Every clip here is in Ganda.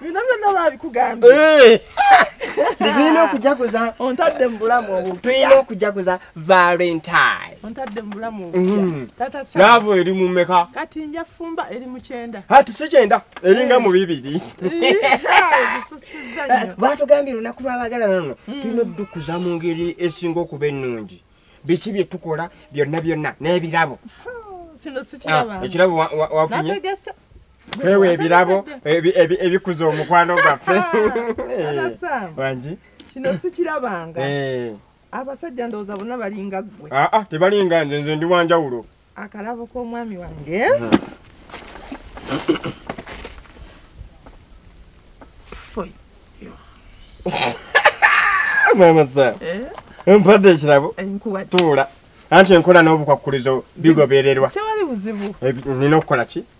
bino byonna babikugambye eh. tulina okujaguza ontadde mu bulamu obutulina okujaguza valentine ontadde mu bulamu obutyaavo mm. eri mumeka kati nja fumba eri mukyenda ati si kyenda eringa mu bibiri batugambye lunaku lwabagala nono mm. tulina odukuza mu ngeri esinga okuba ennungi biki byetukola byonna byonna n'ebirabo oh, ah, ekirabo wafunye kwewa ebirabo ebikuza omukwano gwaffe wangi kino sikirabanga eh. abasajja ndowooza bona balinga ggwe aa ah, ah, tebalinga nze nze ndi wanjawulo akalabo k'omwami wange hmm. mama sa eh? mpadde ekirabo eh, tuula anti enkola n'obukwakkulizo bigobererwa nina okukola ki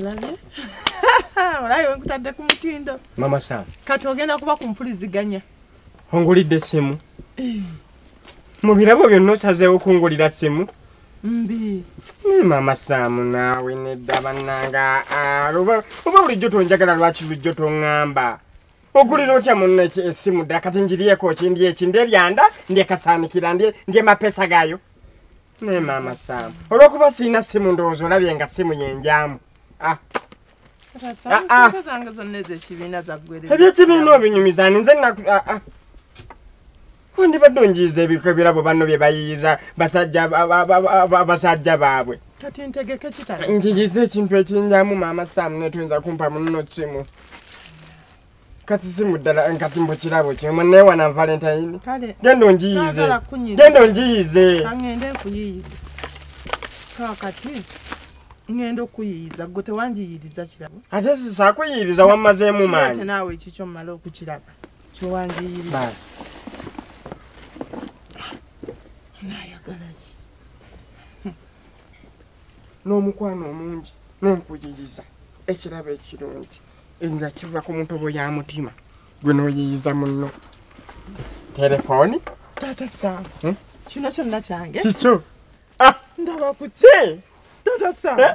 olabye olabye wenkutadde ku mutindo mama sam kati ogenda kuba ku mpuliziganya ongulidde essimu eh. mu birabo byonna osazeewo kungulira ssimu mbi naye mama sam naawe nedda bannanga ah, oba bulijjo tonjagala lwaki bulijjo toŋŋamba ogulira otya munno essimu ddala kati njiriyeko ki ndi eki ndi ebyanda ndi ekasaanikira ndi emapesa gaayo naye maama saamu olwokuba sirina ssimu ndowooza olabye nga ssimu yenjaamu ah. Ah, ah. ebyekibiina obinyumiza ninze wandibadde onjiiza ebiko ebirabo banno bye bayiyiza basajja baabwe kati ntegeke kita njiyiza ekintu ekinjamu maama saamu netuyinza kumpa munno kimu kati simu ddala kati mbu kirabo kimu newana valentine genda onjiyize genda onjiyize ngende nkuyiyize kakati ngenda okuyiyiza gwe tewangiyiriza kirabo ate sisakuyiyiriza wammazeemu maanyi naawe ekikyo mumala okukiraba kiwangiyirira nayagalaki n'omukwano omungi n'ompuliriza ekirabo ekirungi nga kiva ku mutobo ya mutima gwe n'oyiyiza munno telefoni taata sam hmm? kino kyonna kyange kikyo ah! ndaba ku ki taata sam eh?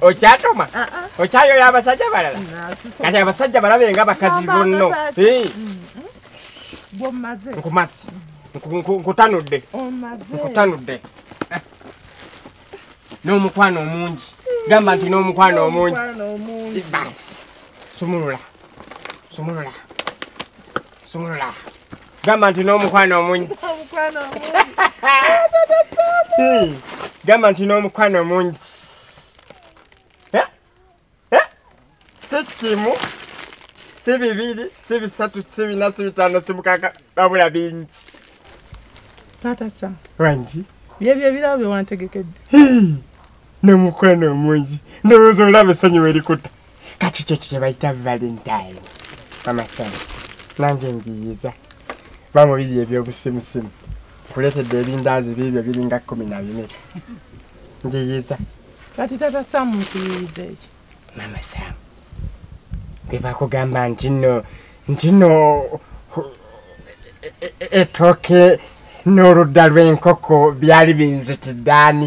okyatoma ah, ah. okyayoyo abasajja balala kati abasajja balabe nga bakazi bonno nkumazi nkutanudde nkutanudde eh. n'omukwano omungi gamba nti n'omukwano omungi basi sumulula sumulula sumulula gamba nti n'omukwano omungi gamba nti n'omukwano omungi si kimu si bibiri si bisatu si bina si bitano si mukaka babula bingi taata sa wangi byebyo ebirabo byewantegekedde nomukwano omungi ndowooza olaba essanyu werikuta kati kyo kyebayita valentine amasana nange ngiyiza bamubiri ebyobusimusimu kuletedde ebindaazi biibyo biringa kumi na bine ngiyiza kati tata samu nkiyiza ekyo mama samu bebakugamba nti no nti no etooke n'oludda lw'enkoko byali binzitiddaani